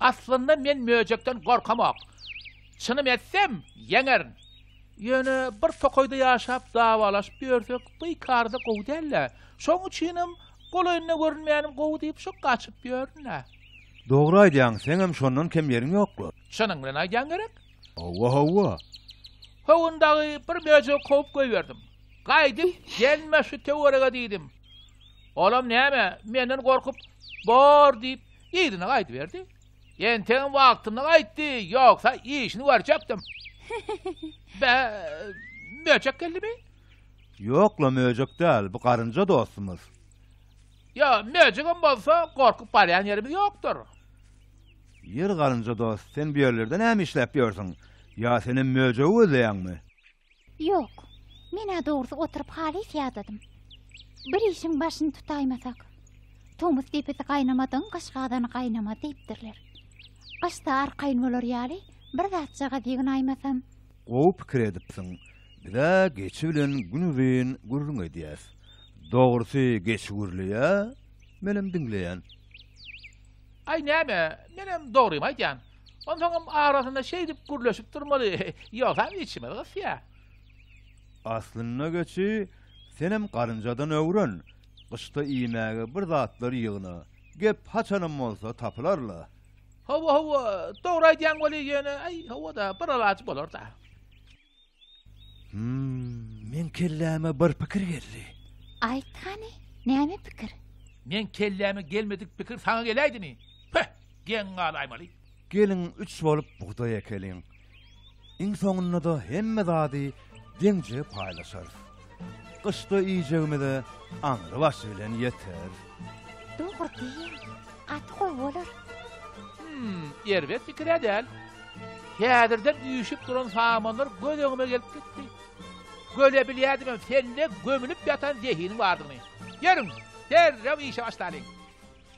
Aslynda men möjekden gorkamok. Çynym etsem, ýeňerin. Ýöne bir tokaýda ýaşap dawalaşyp ýörsek, bikarda gowy däl-dä. Şoň üçinem golaýynda görünmänim gowy diýip şu gaçyp ýörün-ä. Dogry aýdýaň, seňem şondan kem ýeriň ýok-la. Çynyň bilen aýdýaň gerek? Howwa, howwa. Howun dagy bir möjek kowup goýberdim. Gaýdyp gelme şu töwerege diýdim. Olam näme, menden gorkup, bor diýip, yzyna gaýdyberdi. Entegem wagtynda gaýtdy, ýogsa işini görjekdim. Bä, möjek geldimi? Ýok-la möjek däl, bu garynja dostumyz. Ýa, möjegem bolsa, gorkup barýan ýerimiz ýokdur. Ýer galynja dost, sen bu ýerlerde näme işläp ýörsüň? Ýa senem möjegi gözleýäňmi? Ýok. Men-ä dogrusy oturyp halys ýadadym. Bir işiň başyny tutaýmasak. Tomus depesi gaýnamadygyň gyş gazany gaýnamaz diýipdirler. Gyşda arkaýyn bolar ýaly bir zatjagaz ýygnaýmasam. Gowy pikir edipsiň. Biz-ä geçi bilen gün uzyn gürrüň edýäs. Dogrusy, geçi gürleýär, menem diňleýän. Aý näme, menem dogrymy aýdýan. Onsoňam arasynda şeýdip gürleşip durmaly, ýogsam içimiz gysýar. Aslynda geçi, senem garynjadan öwren, gyşda iýmäge bir zatlar ýygna, gep haçanam bolsa tapylar-la. Hawa, hawa, dogry aýdýaň weli, ýöne, aý, hawa-da, bir alaç bolar-da. Hmm. Men kelläme bir pikir geldi. Aýt hany, näme pikir? Men kelläme gelmedik pikir saňa geläýdimi? Peh, geň galaýmaly. Geliň üç bolup bugdaý ekeliň. Iň soňunda-da hemme zady deňje paýlaşarys. Gyşda iýjegimize aňry başy bilen ýeter. Dogry diýýäň. Gaty gowy bolar. Hum, erbet pikir-ä däl. Häzirden üýşüp duran samanlar göz öňüme gelip gitdi. Göle bilýädimem sende gömülip ýatan zehiniň bardygyny. Ýörüň, derrew işe başlalyň.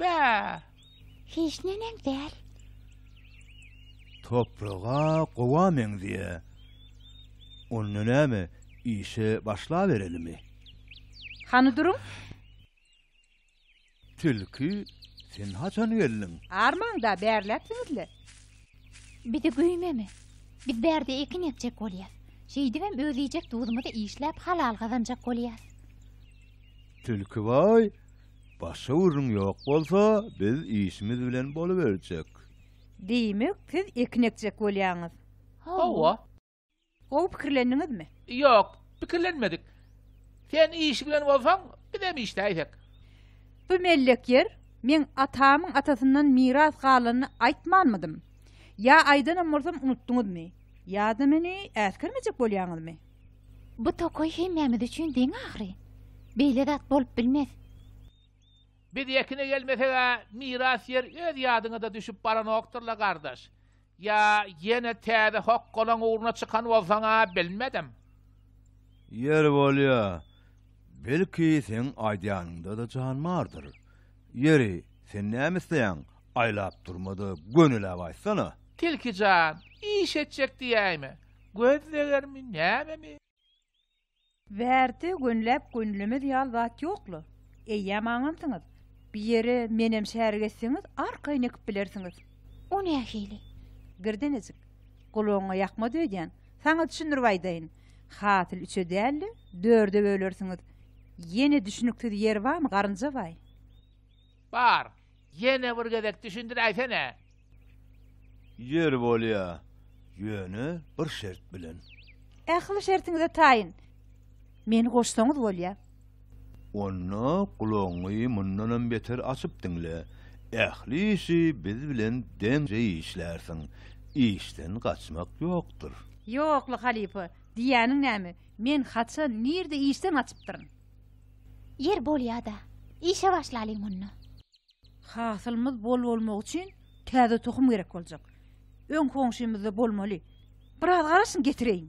Bä! Hiç neneň däl. Topraga gowa meňzeýä. Onda näme, işe başlaberelimi? Hany duruň! Tilki, sen haçan geldiň? Armaň-da, bärläpsiňiz-le. Bizi güýmeme. Biz bärde ekin ekjek bolýas. Şeýdibem öz iýjek duzumyzy işläp halal gazanjak bolýas. Tilki baý, Başga gürrüň ýok bolsa, biz işimiz bilen boluberjek. Diýmek, siz ekin ekjek bolýaňyz? Hawa. Gowy pikirlendiňizmi? Ýok, pikirlenmedik. Sen iş bilen bolsaň, bizem işläýsek. Bu mellek ýer, men atamyň atasyndan miras galanyny aýtmanmydym? Ýa aýdanam bolsam unutdyňyzmy? Ýa-da meni äsgermejek bolýaňyzmy? Bu tokaý hemmämiz üçin deň ahyry. Beýle zat bolup bilmez. Biz ekine gelmeseg-ä miras ýer öz ýadyňa-da düşüp baranokdyr-la, gardaş. Ýa ýene täze hokgalaň ugruna çykan bolsaň-a, bilmedim. Ýer bolýa. Belki, seň aýdýanyňda-da jan bardyr. Ýeri, sen näme isleýäň, aýlap durma-da, gönüläp aýtsana. Tilki jan, iş etjek diýäýme? Göz degermi, nämemi? Wärti gönläp gönlemez ýal zat ýokla. Eýýäm aňansyňyz. Bir ýere menem şärik etseňiz arkaýyn ekip bilersiňiz. O nähili? Girdenejik. Gulagyňa ýakmaz öýdýän. Saňa düşündirip aýdaýyn. Hasyl üçe däl-de, dörde bölersiňiz. Ýene düşüniksiz ýeri barmy, garynjabaý? Bar, ýene bir gezek düşündiräýsene. Ýeri bolýa, ýöne bir şert bilen. Ähli şertiňize taýyn. Meni goşsaňyz bolýa. Onda gulagyňy mundanam beter açyp diňle. Ähli işi biz bilen deňje işlärsiň. Işden gaçmak ýokdur. Ýokla halypa, diýýäniň näme? Men haçan, nirde işden gaçypdyryn? Ýer bolýa-da. Işe başlalyň onda. Hasylymyz bol bolmagy üçin täze tohum gerek boljak. Öň goňşymyzda bolmaly. Biraz garaşyň, getireýin.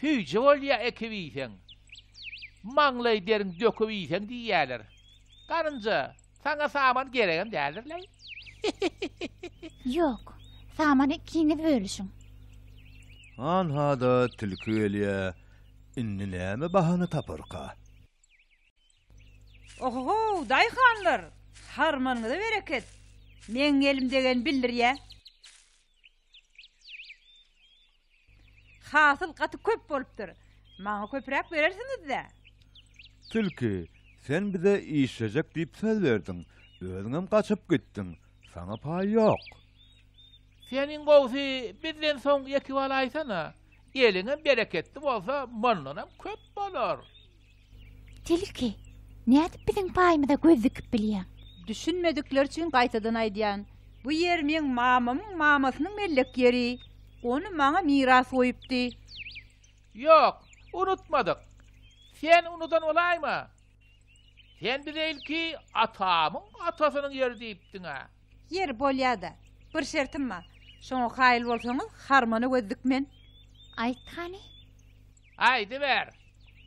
Süýji bolýa ekip iýseň. Maňlaý deriň döküp iýseň diýýäler. Garynja, saňa saman geregem däldir-leý. Ýok, samany ikiňiz bölüşiň. Hanha-da tilki gelýä, indi näme bahana taparka? Oho-how, daýhanlar! Harmanyňyza bereket! Meň elim degeni bildirýä. Hasyl gaty köp bolupdyr. Maňa köpräk berersiňiz-dä? Tilki, sen bize işlejek diýip söz berdiň, özüňem gaçyp gitdiň, saňa paý ýok. Sen iň gowusy bizden soň ýeke bolaýsana. Eliňem bereketli bolsa, mundanam köp bolar. Tilki, nädip biziň paýymyza göz dikip bilýäň? Düşünmedikleri üçin gaýtadan aýdýan. Bu ýer meň mamamyň mamasynyň mellek ýeri. Ony maňa miras goýupdy. Ýok, unutmadyk. Sen unudan bolaýma. Sen bize ilki atamyň atasynyň ýeri diýipdiň-ä. Ýeri bolýa-da. Bir şertim bar. Şoňa kaýyl bolsaňyz, harmana göz dikmen. Aýt hany. Aýdyber.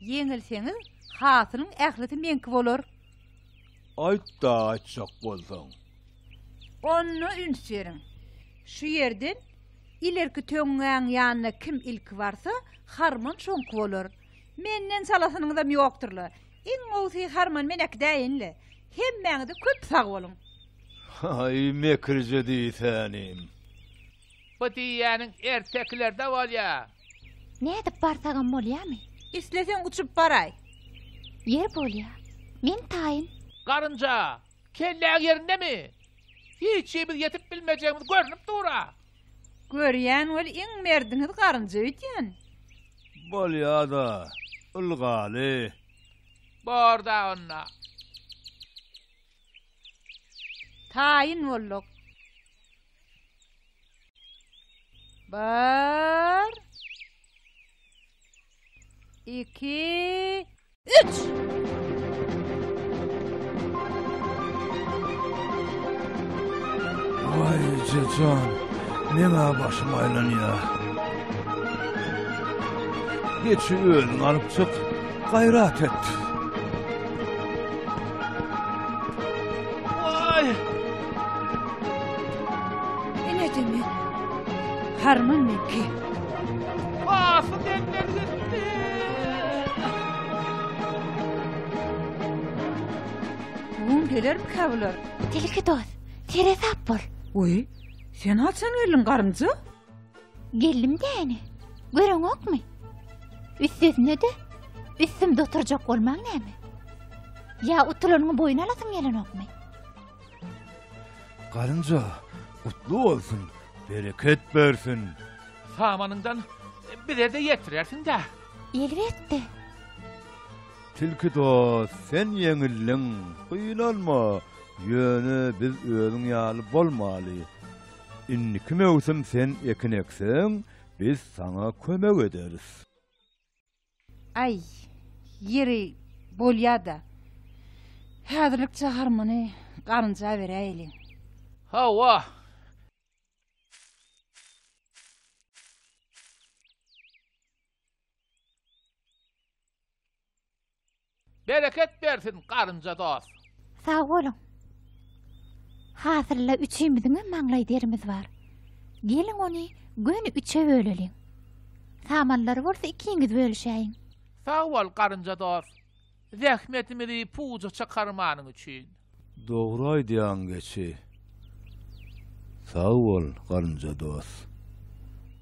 Ýeňilseňiz, hasylyň ählisi meňki bolar. Aýt-da, aýtjak bolsaň. Onda üns beriň. Şu ýerden ilerki töňňäň ýanyna kim ilki barsa, harman şoňky bolar. Menden çalasynyňyzam ýokdur-la. Iň gowusy harman men äkidäýin-le. Hemmäňize köp sag boluň. Haý, mekirje diýsänim. Bu diýýäniň ertekilerde bolýa. Nädip barsagam bolýamy? Isleseň uçup baraý. Ýer bolýa. Men taýyn. Garynja, kelläň ýerindemi? Hiç himiz ýetip bilmejegimiz görnüp dur-a. Görýän weli iň merdiňiz garynja öýdýän. Bolýada, ylgaly. Borda onda. Taýyn bolduk. Bir. Iki. Üç! Jecan, meňä başym aýlanýar. Geçi özüň alyp çyk, gaýrat et. Waý! Ine demi. Harman meki. Bugün gelermikä bular? Tilki dost, seresap bol. Oý, sen haçan geldiň garynja? Geldim däni. Göreňokmy? Üstesine de üstümde oturjak bolmaň näme? Ýa utulanyňy boýun alasyn gelenokmy? Garynja, gutly bolsun, bereket bersin. Samanyňdan bize-de ýetirersiň-dä. Elbetde. Tilki dost, sen ýeňildiň, gynanma, ýöne biz özüň ýaly bolmaly. Indiki möwsüm sen ekin ekseň, biz saňa kömek ederis. Aý, ýeri bolýa-da. Häzirlikçe harmany garynja beräýeliň. Hawa. Bereket bersin garynja dos. Sag boluň. Hasylla üçimiziňem maňlaý derimiz bar. Geliň ony göni üçe böleliň. Samanlary bolsa ikiňiz bölüşäýiň. Sag bol garynja dos. Zähmetimizi puja çykarmanyň üçin. Dogry aýdýaň geçi. Sag bol garynja dos.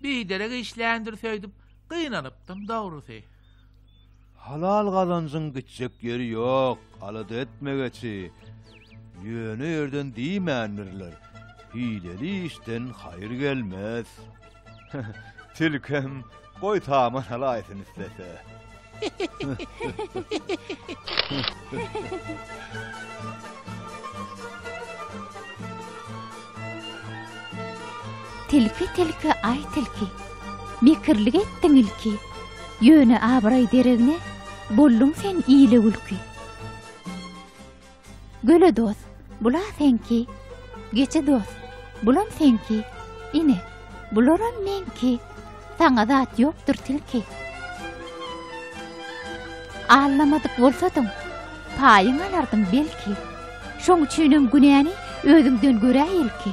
Biderek işländir söýdüp gynanypdym dogrusy. Halal gazanjyň gitjek ýeri ýok alada etme geçi ýöne ýerden diýmändirler hileli işden haýyr gelmez. Tilkem, goý saman halaýsyn islese. Tilki, tilki, aý tilki. Mekirlik etdiň ilki. Ýöne abraý deregine, bolluň sen ile gülki. Göle dos, bula seňki. Geçe dos, bulam seňki. Ine, bularam meňki. Saňa zat ýokdur tilki. Allamadyk bolsadyň, paýyň alardyň belki. Şoň üçinem günäni özüňden görä ilki.